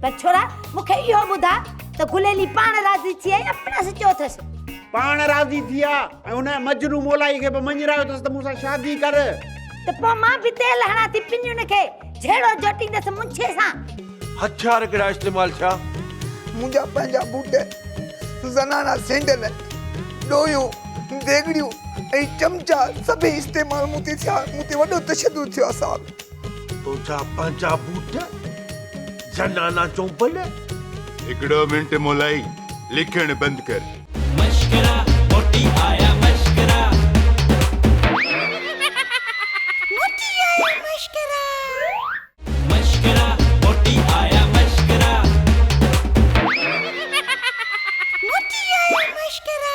پر ڇورا مون کي اهو ٻڌاء ته گليلي پاڻ راضي ٿي ۽ اپنا سان چيو اٿس. پاڻ راضي ٿي آ ۽ هن مجنون مولائي کي به مڃرايو اٿس ته مون سان شادي ڪر. ته پوء مان به تيل هڻان ٿي پنيون کي جهيڙو جهٽيندس منڇي سان. هٿيار ڪهڙا استعمال ٿيا؟ منهنجا پنهنجا بوٽ، زنانا سينڊل، ڏويون، ديڳڙيون ۽ چمچا سڀئي استعمال مون تي ٿيا. مون تي وڏو تشدد ٿيو آ صاحب. تنهنجا پنهنجا بوٽ زنانا چومبل. هڪڙو منٽ مولائي لکڻ بند ڪر. مشڪرا موٽي آيا مشڪرا. موٽي آيا مشڪرا. مشڪرا موٽي آيا مشڪرا. موٽي آيا مشڪرا.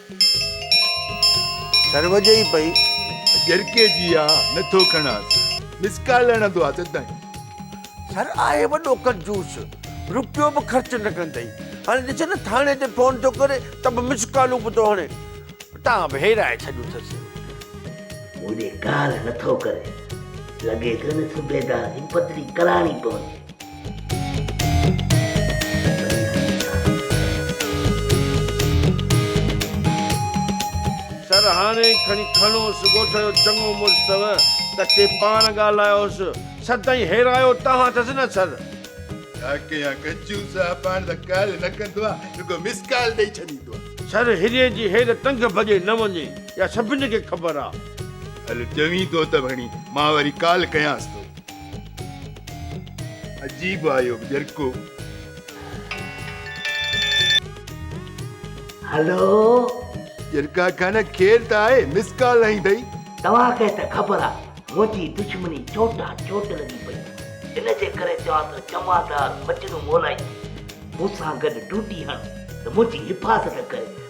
سر وڄي ئي پئي. جرڪي جي آ نه ٿو کڻانس. مس ڪال هڻندو آ سدائين. سر آهي وڏو ڪنجوس. روپيو به خرچ نه ڪندئي. هاڻي ڏسي نه ٿاڻي تي فون ٿو ڪري ته به مس ڪالون به ٿو هڻي. تان به هيرائي ڇڏيون اٿس. مون ڏي ڪال نه ٿو ڪري. لڳي ٿو هن صوبيدار جي پڌري ڪراڻي پوندي. سر هاڻي کڻي کڻوس ڳوٺ جو چڱو مڙس ٿو ڪٿي پاڻ ڳالهايوس سدائين هيرايو توهان ٿس نه سر. ڇا ڪيان ڪچو صاحب پاڻ ته ڪال نه ڪندو آهي رڳو مس ڪال ڏئي ڇڏيندو آهي. سر هيري جي هير ٽنگ ڀڄي نه وڃي اها سڀني کي خبر آهي. هل چوين ٿو ته ڀڻي مان وري ڪال ڪيانس ٿو. عجيب آهيو ڄرڪو. هلو. ڄرڪا خان خير ته آهي مس ڪال هنئي اٿئي. توهان کي ته خبر آهي منهنجي دشمني چوٽان چوٽ لڳي پئي آهي ان جي ڪري چوان ٿو جمعدار مجنون مولائي مون سان گڏ ڊوٽي هڻ ته منهنجي حفاظت ڪري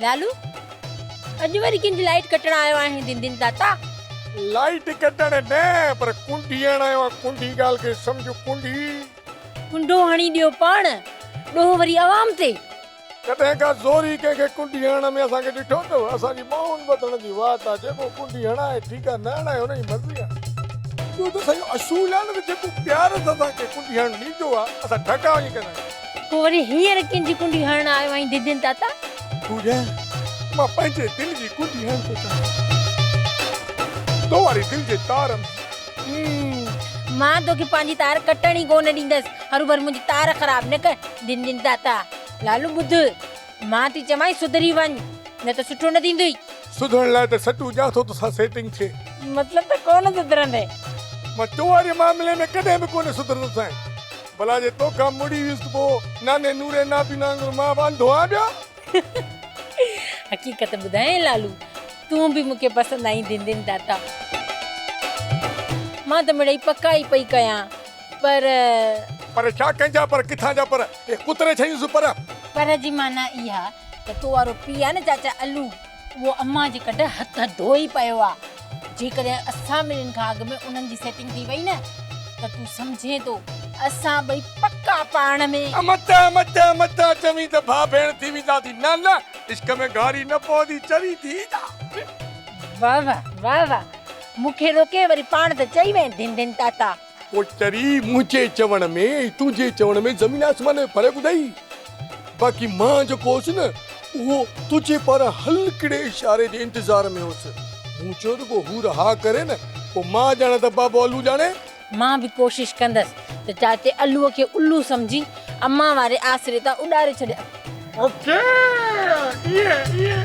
لالو اڄ وري ڪنهن جي لائيٽ ڪٽڻ آيو آهين دين دين داتا. لائيٽ ڪٽڻ نه پر ڪنڊي هڻڻ آيو آهيان ڪنڊي ڳالهه کي سمجهه ڪنڊي. ڪنڊو هڻي ڏيو پاڻ ڏوهه وري عوام تي. ڪڏهن ڪا زوري ڪنهن کي ڪنڊي هڻڻ ۾ اسان کي ڏٺو اٿو؟ اسان جي ٻانهن ٻڌڻ جي واٽ آ، جيڪو ڪنڊي هڻائي ٺيڪ آ، نه هڻائي هن جي مرضي آ. اهو ته اسان جو اصول آ نه ته جيڪو پيار سان اسان کي ڪنڊي هڻڻ ڏيندو آ، اسان ڍڪا وڃي ڪندا آهيون. پوء وري هينئر ڪنهن جي ڪنڊي هڻڻ آيو آهين ددين تاتا؟ پوڄا، مان پنهنجي دل جي ڪنڊي هڻڻ ٿو چاهيان. تو واري دل جي تار ۾ مان توکي پنهنجي تار ڪٽڻ ئي ڪونه ڏيندس هروڀرو منهنجي تار خراب نه ڪر دن دن داتا لالو ٻڌ مان ٿي چوانء سڌري وڃ نه ته سٺو نه ٿيندئي. سڌرڻ لاء ته سٽون ڏيان ٿو توسان سيٽنگ ٿئي. مطلب ته ڪونه سڌرندين. مان تو واري معاملي ۾ ڪڏهن به ڪونه سڌرندسانء. ڀلا جي توکان مڙي ويس ته پوء ناني نوري نابينا وانگر مان به انڌو آهيان ٻيا. حقيقت ٻڌايئي لالو تون به مونکي پسند آئين دن دن داتا مان ته مڙئي پڪا ئي پئي ڪيان پر پر ڇا ڪنهن جا پر ڪٿان جا پر اهي ڪتري ڇيون سون پر. پر جي معنيٰ اها ته تو وارو پيء آهي نه چاچا الو. اهو امان جي ڪڍ هٿ ڌوئي پيو آ جيڪڏهن اسان ٻنهين کان اڳ ۾ انهن جي سيٽنگ ٿي وئي نه ته تون سمجهين ٿو اسان ٻئي پڪا پاڻ ۾. امتا امتا امتا چوين ته ڀاء ڀيڻ ٿي ويندا سين نه نه عشق ۾ گهاري نه پوندي چري ٿي ايندا. واهه واهه واهه واهه مون کي روڪي وري پاڻ ته چئي وئين ڌن ڌن تاتا. پوئٽري منهنجي چوڻ ۾ ۽ تنهنجي چوڻ ۾ زمين آسمان جو فرق اٿئي. باقي مان جيڪو هوس نه اهو تنهنجي پاران هلڪڙي اشاري جي انتظار ۾ هوس. مون چيو رڳو حور ها ڪري نه پوء مان ڄاڻان ته بابو الو ڄاڻي. مان به ڪوشش ڪندس ته چاچي الو کي الو سمجهي امان واري آسري تان اڏاري ڇڏيان. اوڪي ايئن ايئن.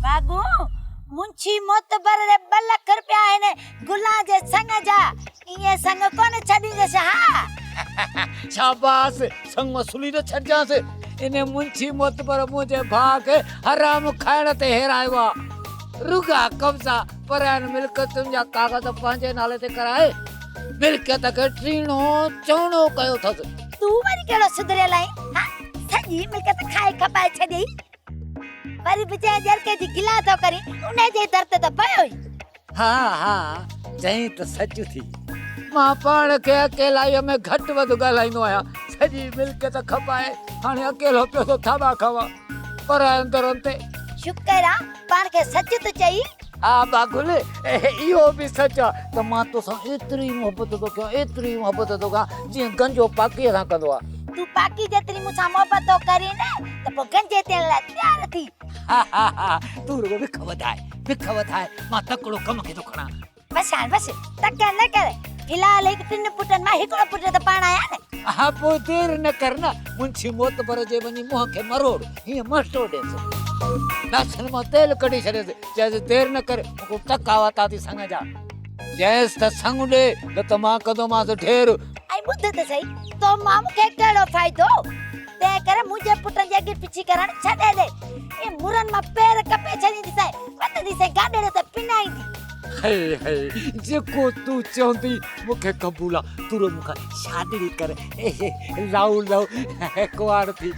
بابو منشي معتبر ڏي ٻه لک رپيا هن گلان جي سڱ جا ايئن سڱ ڪونه ڇڏيندس ها شاباس سڱ وصولي نه ڇڏجانس ان منشي معتبر منهنجي ڀاء کي حرام کائڻ تي هيرايو آهي رڳا قبضا پراين ملڪيتن جا ڪاغذ پنهنجي نالي تي ڪرائي ملڪيت کي ٽيڻو چوڻو ڪيو اٿس تون وري ڪهڙو سڌريل آهين ها سڄي ملڪيت کائي کپائي ڇڏيئي وري به جنهن جرڪي جي گلا ٿو ڪرين ان جي در تي ته پيو ئي. ها ها چئين ته سچ ٿي. مان پاڻ کي اڪيلائيء ۾ گهٽ وڌ ڳالهائيندو آهيان. سڄي ملڪيت کپائي هاڻي اڪيلو پيو ٿو ٿاٻا کائان پرائن درن تي. شڪر آ پاڻ کي سچ ٿو چئين. آء با گل اهو به سچ آ ته مان توسان ايتري محبت ٿو ڪيان ايتري محبت ٿو ڪيان جيئن گنجو پاڪيء سان ڪندو آ. تون پاڪي جيتري مون سان محبت ٿو ڪرين ته پوء گنجي ٿيڻ لاء تيار ٿي. ها ها ها تون رڳو وک وڌاء وک وڌاء مان تڪڙو ڪم کي ٿو کڻان. بس هاڻ بس تڪڙ نه ڪر في الحال هڪ ٽن پٽن مان هڪڙو پٽ ته پاڻ آهيان نه. ها پوء دير نه ڪر نه منشي معتبر جي وڃي منهن کي مروڙ هينئن مهٽو ڏيس. ناسن مان تيل ڪڍي ڇڏيس، چيس، دير نه ڪر، مون کي ٽڪ آيا ٿا اٿي سڱ جا. چيس ته سڱ ڏي، نه ته مان ڪندومانس ڍير. ۽ ٻڌ ته سهي، تو مان مون کي ڪهڙو فائدو؟ تنهن ڪري منهنجي پٽن جي اڳي پڇي ڪرڻ ڇڏي ڏي. اي مرن مان پير ڪپي ڇڏيندي سانء، وتندي سانء گاڏڙيء تي پنائيندي. هيء هيء، جيڪو تون چوندي، مون کي قبول آ. تون رڳو مون کان شادي ئي ڪر. هيء هيء، لائو لائو، ڪنوار ٿي.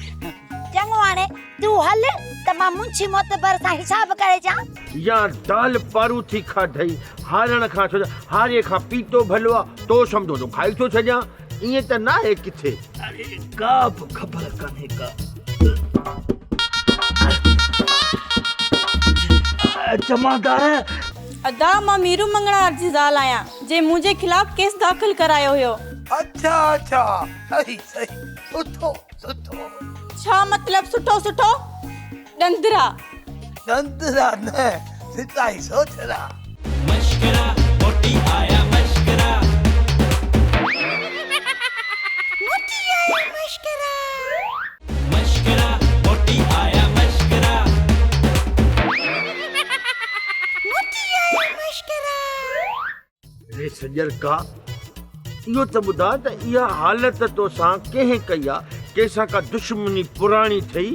چڱو هاڻي تون هل ته مان منشي معتبر سان حساب ڪري اچان. يا دال پاروٿي کاڌئي هارڻ کان ڇو ته هاري کان پيتو ڀلو آ تو سمجهو ٿو کائي ٿو ڇڏيان ائين ته ناهي ڪٿي. اڙي ڪا به خبر ڪانهي ڪا. جمعدار. ادا مان ميرو مڱڻهار جي زال آهيان جنهن منهنجي خلاف ڪيس داخل ڪرايو هيو. اڇا اڇا سهي سهي اٿو. سٺو ڇا مطلب سٺو سٺو ڏندرا. ڏندرا نه سچائي سوچرا. مشڪرا موٽي آيا مشڪرا. موٽي آيا مشڪرا. مشڪرا موٽي آيا مشڪرا. موٽي آيا مشڪرا. اڙي سڄرڪا! اهو ته ٻڌاء ته اها حالت توسان ڪنهن ڪئي آ؟ ڪنهن سان ڪا دشمني پراڻي ٿئي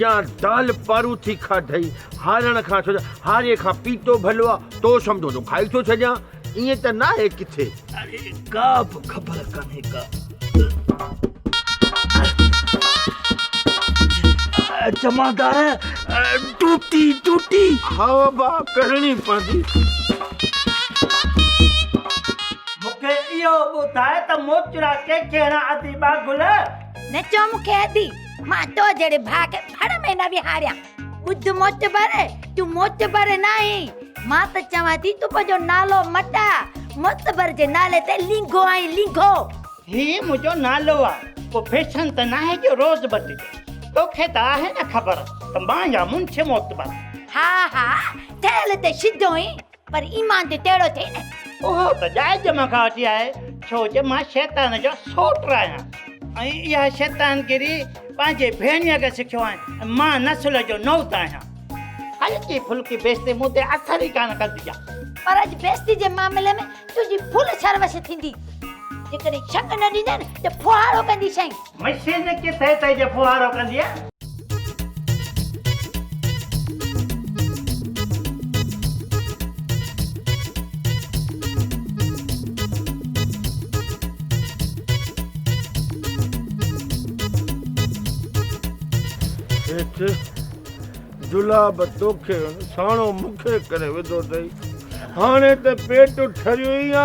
يا دال پاروٿي کاڌئي؟ هارڻ کان ڇڏ، هاري کان پيتو ڀلو آ، تو سمجهو ٿو کائي ٿو ڇڏيان، ائين ته ناهي ڪٿي؟ اڙي ڪا به خبر ڪانهي ڪا. جمعدار ڊوٽي ڊوٽي ها با ڪرڻي پوندي مون کي اهو ٻڌاء ته موچڙا ڪنهن کي هڻان ادي ٻاگل. نه چئو مون کي ادي، مان تو جهڙي ڀاء کي ڀڙ ۾ نه ويهاريان. ٻڌ معتبر تون معتبر ناهين مان ته چوان ٿي تون پنهنجو نالو مٽاء معتبر جي نالي تي لينگهو آهين لينگهو هي منهنجو نالو آ ڪو فيشن ته ناهي جو روز بدلجي توکي ته آهي نه خبر ته مان يا منشي معتبر. ها ها ٺهيل ته سڌو اين. پر ايمان تي تهڙو ٿئي نه. اهو ته جائز مان کان وٺي آهي، ڇو جو مان شيطان جو سوٽ آهيان. ۽ اها شيطانگيري پنهنجي ڀيڻيء کي سکيو آهيان ۽ مان نسل جو نوت آهيان. هلڪي ڦلڪي بيستي مون تي اثر ئي ڪانه ڪندي آهي. پر اڄ بيستي جي معاملي ۾ تنهنجي ڦل سروش ٿيندي. جيڪڏهن شڪ نه ڏيندين ته ڦوهارو ڪنديسين. مشين ڪٿي تئي جو ڦوهارو ڪندينء. هيٺ جلا به توکي ساڻو مونکي ڪري وڌو اٿئي. هاڻي ته پيٽ ٺريو ئي آ،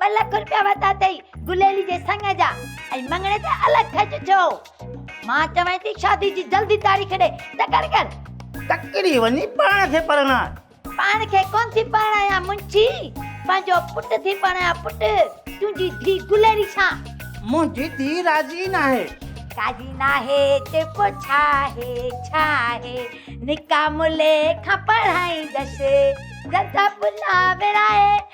ٻه لک روپيا ورتا اٿئي گليلي جي سڱ جا ۽ مڱڻي تي الڳ خرچ ٿيو مان چوين ٿي شادي جي جلدي تاريخ ڏي تڪڙ ڪر تڪڙي وڃي پاڻ کي پرڻاء پاڻ کي ڪون ٿي پرڻايان منشي پنهنجو پٽ ٿي پرڻايان پٽ تنهنجي ڌي گليلي سان منهنجي ڌي راضي ناهي راضي ناهي ته پوء ڇا آهي ڇا آهي نڪا ملي کان پڙهائيندس جلدا پلا ورائي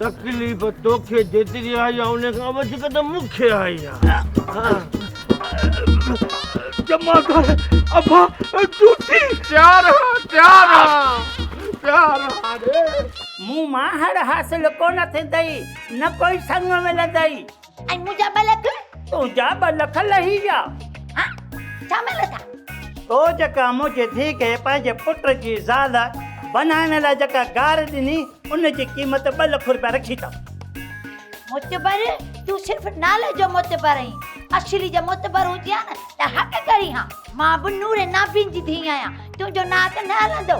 تڪليف توکي جيتري آئي آ ان کان وڌيڪ ته مون کي آئي آ. جمعدار ابا ڊوٽي تيار آ تيار آ تيار آ ري. مون مان هڙ حاصل ڪونه ٿيندئي نه ڪوئي سڱ ملندئي. ۽ منهنجا ٻه لک؟ تنهنجا ٻه لک لهي ويا. ها، ڇا ملس ها؟ تو جيڪا منهنجي ڌيء کي پنهنجي پٽ جي زال بنائڻ لاء جيڪا گار ڏني، ان جي قيمت ٻه لک روپيا رکي اٿم. معتبر، تون صرف نالي جو معتبر آهين. اصلي جي معتبر هجي ها نه ته حق ڪرين ها. مان به نور نابين جي ڌيء آهيان، تنهنجو ناڪ نه هلندو.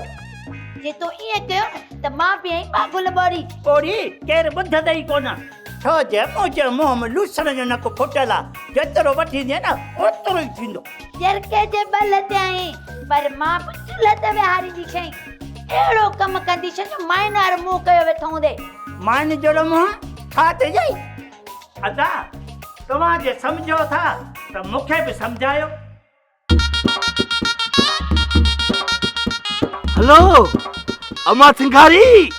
جي تو ائين ڪيو نه ته مان به ائين ٻاگهل ٻوري. ٻوري! ڪير ٻڌ اٿئي ڪونه. ڇو جو اوجهه منهن ۾ لوسڻ جو نڪ ڦٽل آ، جيترو وٺيندينء نه اوترو ئي ٿيندو. جرڪي جي ٻه لتي آهين، پر مان به ٽي لت ويهارينديشينء. اهڙو ڪم ڪنديشينء جو مائن وارو منهن ڪيو ويٺو هوندي. مائن جهڙو منهن ڇا ٿي جئي؟ ادا، توهان جي سمجهو ٿا ته مون کي به سمجهايو. هلو امان سنگهاري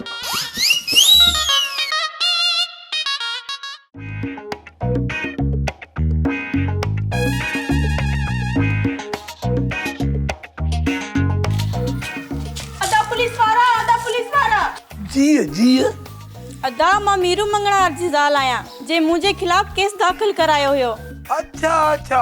ادا مان ميرو مڱڻهار جي زال آهيان جنهن منهنجي خلاف ڪيس داخل ڪرايو هيو اڇا اڇا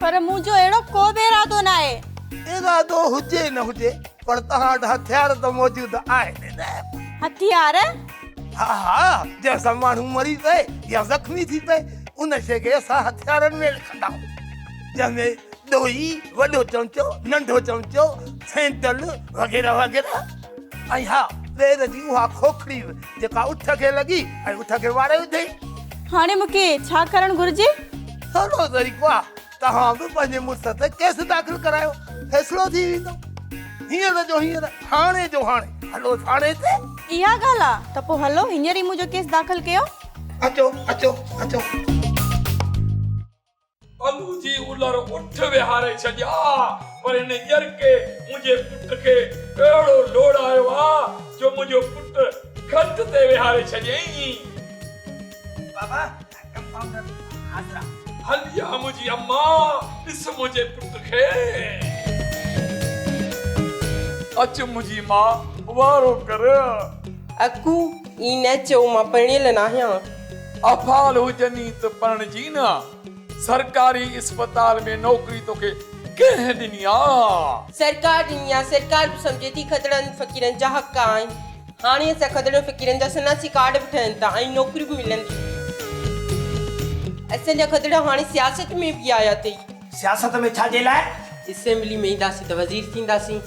پر منهنجو اهڙو ڪو به ارادو ناهي. ارادو هجي نه هجي پر توهان وٽ هٿيار ته موجود آهن نه؟ هٿيار؟ ها ها جنهن سان ماڻهو مري پئي يا زخمي ٿي پئي ان شيء کي اسان هٿيارن ۾ لکندا آهيون جنهن ۾ ڏوئي، وڏو چمچو، ننڍو چمچو، سينٽل وغيره وغيره. ۽ ها، ٻير جي اها کوکڙي به جيڪا اٺ کي لڳي ۽ اٺ کي واري وڌئي. هاڻي مون کي ڇا ڪرڻ گهرجي؟ سولو طريقو آ، توهان به پنهنجي مڙس تي ڪيس داخل ڪرايو، فيصلو ٿي ويندو. هينئر جو هينئر، هاڻي جو هاڻي، هلو ٿاڻي تي. اها ڳالهه آ، ته پوء هلو هينئر ئي منهنجو ڪيس داخل ڪيو. اچو، اچو، اچو. الو جي الر اٺ ويهاري ڇڏيا ها پر هن ڄرڪي منهنجي پٽ کي اهڙو لوڙايو ها جو منهنجو پٽ کٽ تي ويهاري ڇڏيائين. بابا ڪمپائونڊر حاضرا. هلي آ منهنجي اما ڏس منهنجي پٽ کي. اچ منهنجي ماء وارو ڪر. اکو اين ايڇ او مان پرڻيل ناهيان. افعال هجني ته پرڻجي نه آ. سرڪاري اسپتال ۾ نوڪري توکي ڪنهن ڏني آ. سرڪار ڏني آ. سرڪار به سمجهي ٿي کدڙن فقيرن جا حق آهن. هاڻي اسان کدڙن فقيرن جا شناسي ڪارڊ به ٺهن ٿا ۽ نوڪري به ملن ٿيون. اسان جا کدڙ هاڻي سياست ۾ به آيا اٿئي. سياست ۾ ڇا جي لاء؟ اسيمبلي ۾ اينداسين ته وزير ٿينداسين.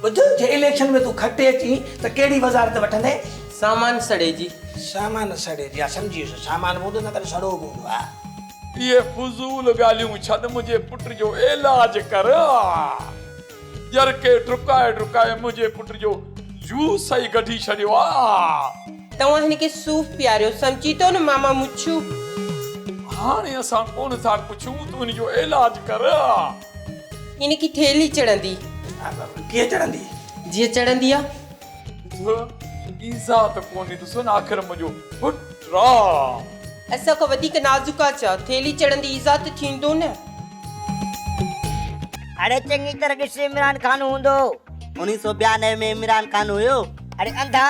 ٻڌ، جي اليڪشن ۾ تون کٽي اچين ته ڪهڙي وزارت وٺندين؟ سامان سڙي جي. سامان سڙي جي، آء سمجهي ويس، سامان به هوندو نه پر سڙو به هوندو، آء. اهي فضول ڳالهيون ڇڏ، منهنجي پٽ جو عيلاج ڪر، آء. ڄر کي ڊڪائي ڊڪائي منهنجي پٽ جو جوس ئي ڪڍي ڇڏيو آ. توهان هن کي صوف پياريو سمجهي ٿو نه ماما مڇو. هاڻي اسان ڪونه ٿا پڇون تون هن جو علاج ڪر آ. هن کي ٿيلهي چڙهندي. ڪيئن چڙهندي؟ جيئن چڙهندي آ. ڌو ايذاء ته ڪونهي ته سن آخر منهنجو پٽ رام. اسان کان وڌيڪ نازڪ آ ڇا؟ ٿيلهي چڙهندي ايذاء ته ٿيندو نه. اڙي چڱي طرح ڏس عمران خان هوندو. انيس سو ٻيانوي ۾ عمران خان هيو. اڙي انڌا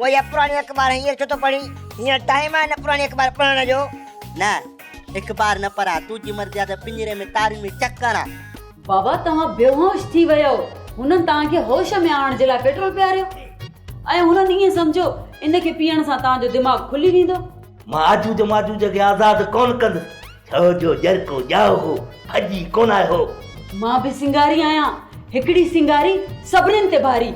اهي اها پراڻي اخبار هينئر ڇو ٿو پڙهين؟ هينئر ٽائيم آهي نه پراڻي اخبار پڙهڻ جو. نه اخبار نه پڙهان، تنهنجي مرضي آ ته پڃري ۾ تارين ۾ چڪ هڻان. بابا توهان بيهوش ٿي ويو هنن توهان کي هوش ۾ آڻڻ جي لاء پيٽرول پياريو ۽ هنن ائين سمجهيو ان کي پيئڻ سان توهان جو دماغ کلي ويندو. مان آجوج ماجوج کي آزاد ڪونه ڪندس ڇو جو ڄرڪو ڄائو هو ڀڄي ڪونه آيو هو. مان به سنگاري آهيان هڪڙي سنگاري سڀنن تي ڀاري.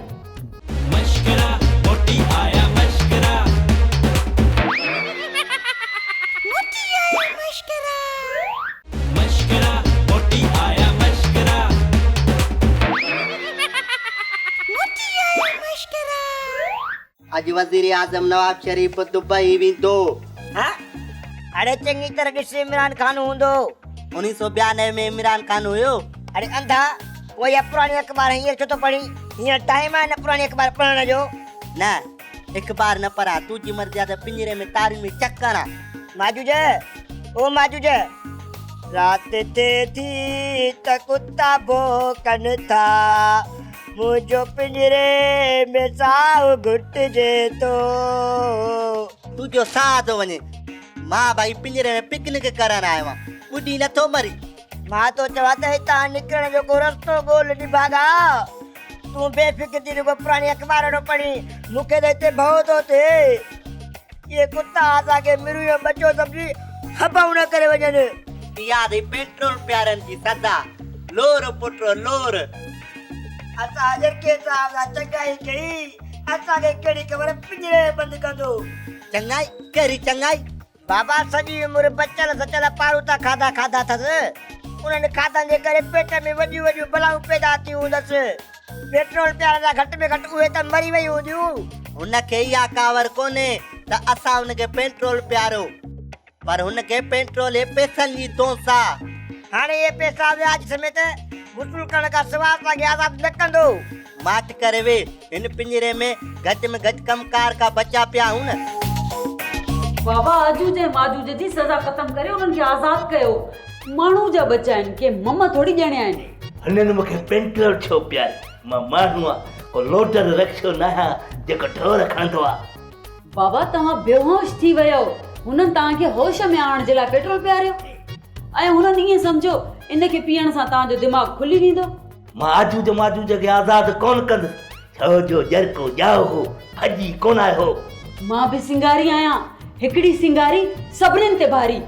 اڄ وزيراعظم نواز شريف دبئي ويندو. ها اڙي چڱي طرح ڏس عمران خان هوندو. انهي سو ٻيانوي ۾ عمران خان هيو. اڙي انڌا. پوء اها پراڻي اخبار هينئر ڇو ٿو پڙهين؟ هينئر ٽائيم آهي نه پراڻي اخبار پڙهڻ جو. نه اخبار نه پڙهان، تنهنجي مرضي آهي ته پڃري ۾ تارين ۾ چڪ هڻان. ماجوج! او ماجوج! رات ٿئي ٿي ته ڪتا ڀونڪن ٿا، منهنجو پڃري ۾ ساهه گهٽجي ٿو. تنهنجو ساهه ٿو وڃي. مان ڀائي پڃري ۾ پڪنڪ ڪرڻ آيو آهيان، ٻڏي نه ٿو مرين. مان تو چوان ته هتان نڪرڻ جو ڪو رستو ڳول نڀاڳا تون بي فڪر ٿي رڳو پراڻي اخبار نو پڙهي مون کي ته هتي ڀؤ ٿو ٿئي اهي ڪتا اسان کي مرون جو ٻچو سمجهي هٻئون نه ڪري وڃن اها اٿئي پيٽرول پيارن جي صدا لور پٽ لور اسان جرڪي صاحب سان چڱائي ڪئي اسان کي ڪهڙي خبر پڃري بند ڪندو. چڱائي ڪهڙي چڱائي بابا سڄي عمر بچل سچل پاروٿا کاڌا کاڌا اٿس. انهن کاڌن جي ڪري پيٽ ۾ وڏيون وڏيون بلائون پيدا ٿيون هوندس. پيٽرول پيارڻ لاء گهٽ ۾ گهٽ اهي ته مري ويون هونديون. هن کي اها ڪاوڙ ڪونهي ته اسان هن کي پيٽرول پياريو. پر هن کي پيٽرول هي پيسن جي دونس آ. هاڻي اهي پيسا وياج سميت وصول ڪرڻ کان سواء اسان کي آزاد نه ڪندو. ماٺ ڪري وي هن پڃري ۾ گهٽ ۾ گهٽ ڪم ڪار کا بچا پيا هون. بابا اجوج ۽ ماجوج جي سزا ختم ڪري انهن کي آزاد ڪيو. ماڻهو جا ٻچا آهن ڪي مم ٿوري ڄڻيا آهن. هنن مون کي پينٽر ڇو پياريو؟ مان ماڻهو آهيان ڪو لوڊر رڪشو ناهيان جيڪو ڍور کڻندو آهي. بابا توهان بيهوش ٿي ويو هنن توهان کي هوش ۾ آڻڻ جي لاء پيٽرول پياريو ۽ هنن ائين سمجهيو ان کي پيئڻ سان توهان جو دماغ کلي ويندو. مان آجوج و ماجوج کي آزاد ڪونه ڪندس، ڇو جو جرڪو ڄائو هو، ڀڄي ڪونه آيو. مان به سنگاري آهيان، هڪڙي سنگاري سڀنن تي ڀاري.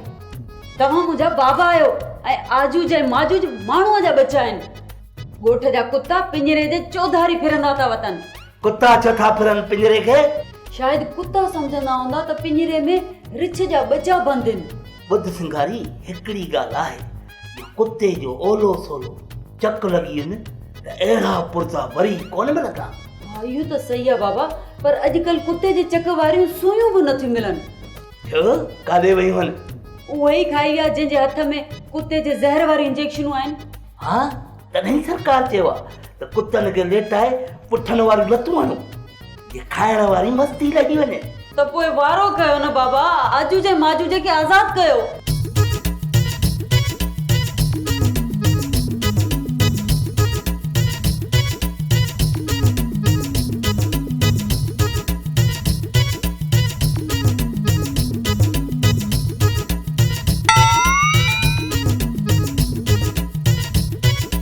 توهان منهنجا بابا آهيو ۽ آجوج ۽ ماجوج ماڻهوء جا ٻچا آهن. ڳوٺ جا ڪتا پڃري جي چوڌاري ڦرندا ٿا وتن. ڪتا ڇو ٿا ڦرن پڃري کي؟ شايد ڪتا سمجهندا هوندا ته پڃري ۾ رڇ جا ٻچا بند هن. ٻڌ سنگاري، هڪڙي ڳالهه آهي، جو ڪتي جو اولو سولو چڪ لڳي وڃي ته اهڙا پرزا وري ڪونه ملندا. ها اهو ته صحيح آهي بابا پر اڄڪلهه ڪتي جي چڪ واريون سوئيون به نٿيون ملن. ڇو ڪاڏي ويون آهن؟ اهو ئي کائي ويا جنهن جي هٿ ۾ ڪتي جي زهر واريون انجيڪشنون آهن. ها تڏهن ئي سرڪار چيو آهي ته ڪتن کي ليٽائي پٺن واريون لتون هڻو. جي کائڻ واري مستي لڳي وڃي. ته پوء وارو ڪيو نه بابا، آجوج ۽ ماجوج کي آزاد ڪيو.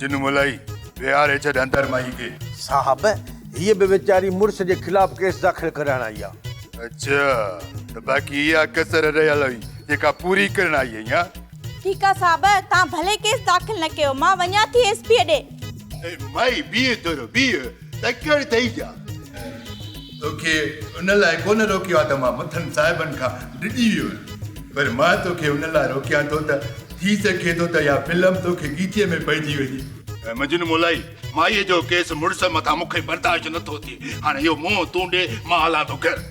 جنو ملائي ويهار هي ڇڏ اندر مائي کي. صاحب هيء به ويچاري مڙس جي خلاف ڪيس داخل ڪرائڻ آئي آ. اڇا ته باقي اها ڪسر رهيل هئي جيڪا پوري ڪرڻ آئي هئي ها. ٺيڪ آ صاحب توهان ڀلي ڪيس داخل نه ڪيو مان وڃان ٿي ايس پيء ڏي. اي مائي بيهه ٿورو بيهه تڪڙ ٿئي جا. توکي ان لاء ڪونه روڪيو آ ته مان مٿن صاحبن کان ڊڄي ويو آهيان پر مان توکي ان لاء روڪيان ٿو ته ٿي سگهي ٿو ته اها فلم توکي ڳيچيء ۾ پئجي وڃي. مجنون مولائي، مائيء جو ڪيس مڙس مٿان مون کي برداشت نه ٿو ٿئي. هاڻي اهو منهن تون ڏي، مان هلان ٿو گهر.